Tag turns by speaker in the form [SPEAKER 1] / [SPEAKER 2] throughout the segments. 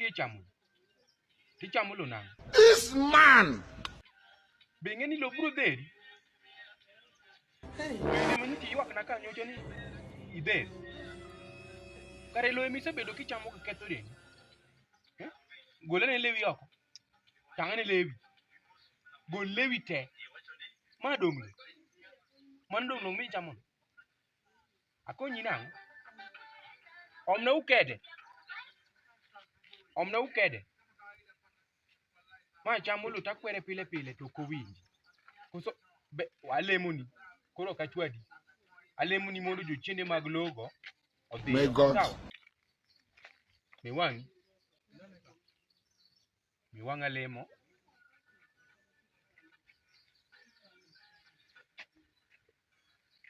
[SPEAKER 1] Tichamulo. Tichamulo nang'o? This man! Be ing'e ni lo biro dheri? Ema ni tiywakna ka nyocha ni idheri. Kare lo ema isebedo kichamo ka ketho dendi. Eh? Golane lewi oko. Tang'ane lewi. Gol lewi te. Ma dong' lo. Mano dong' lo michamono. Akonyi nang'o? Omna ukede. Omna ukede. Ma chamo loo takwere pile pile to ok owinji. Koso be alemoni koro ok achwadi. Alemoni mondo jochiende mag logo odhi. May God. Sawa? Be wang'i. Mi wang'a lemo.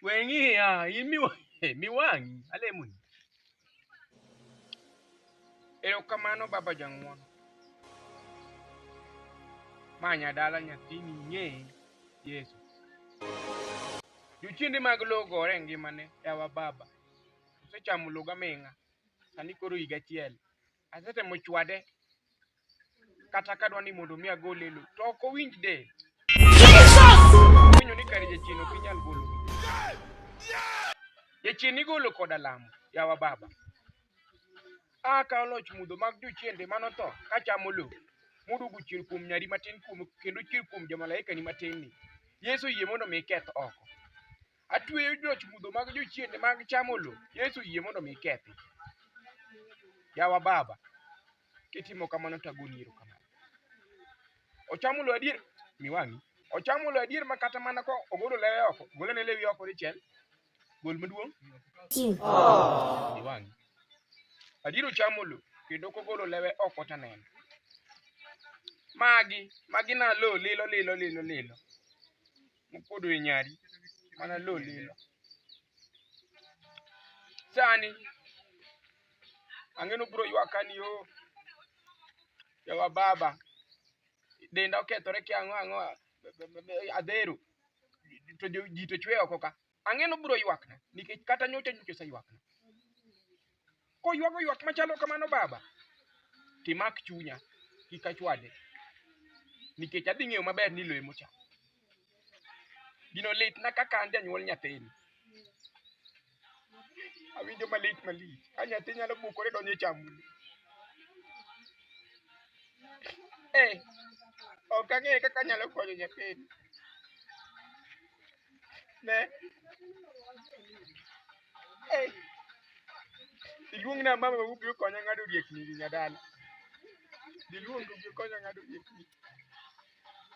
[SPEAKER 1] Weng'iya, in mi mi wang'i alemoni. Erokamano baba jang'won. Ma nyadala nyathini ng'e Yesu. Jochiende mag lowo gore e ngimane yawa baba. Osechamo loga ming'a. Sani koro higa achiel. Asetemo chwade kata kadwa ni mondo mi agol e lo to ok owinj del. Winyo ni kare jachien ok inyal golo. Jachien igolo koda lamo yawa baba. A ka oloch mudho mag jochiende manotho ka chamo lo. Mudugu chier kuom nyari matin kuom kendo chier kuom jamalaika ni matin ni. Yesu yie mondo mi keth oko. Atweyo joch mudho mag jochiende mag chamo lo. Yesu yie mondo mi kethi. Yawa Baba, kitimo kamano to agoni iro kamano. Ochamo lo adier, mi wang'i. Ochamo lo adier ma kata mana ko ogolo lewe oko, golo ne lewe oko dichiel. Gol maduong'. Oh. Mi wang'i. Adier ochamo lo kendo kogolo lewe oko to aneno. Magi, magi na lo lilo lilo lilo lilo. mopodo e nyari mana lo lilo. Sani ang'e ni ubiro ywaka ni o yawa baba denda okethore kia ang'o ang'o adhero to ji to chwe oko ka. Ang'e nobiro ywakna nikech kata nyocha nyocha oseywakna. Koywago ywak machalo kamano baba, timak chunya kik achwade nikech adhi ng'eyo maber ni loye mocha. Gino litna kaka an janyuol nyathini. Awinjo malit malich ka nyathi nyalo bukore donjo e chamuni. Eh, ok ang'eyo kaka anyalo konyo nyathini. Ne. Hey. Iluong na mama ma ubiro konya ng'ado riekni gi nyadala. Diluong to ubiro konya ng'ado riekni.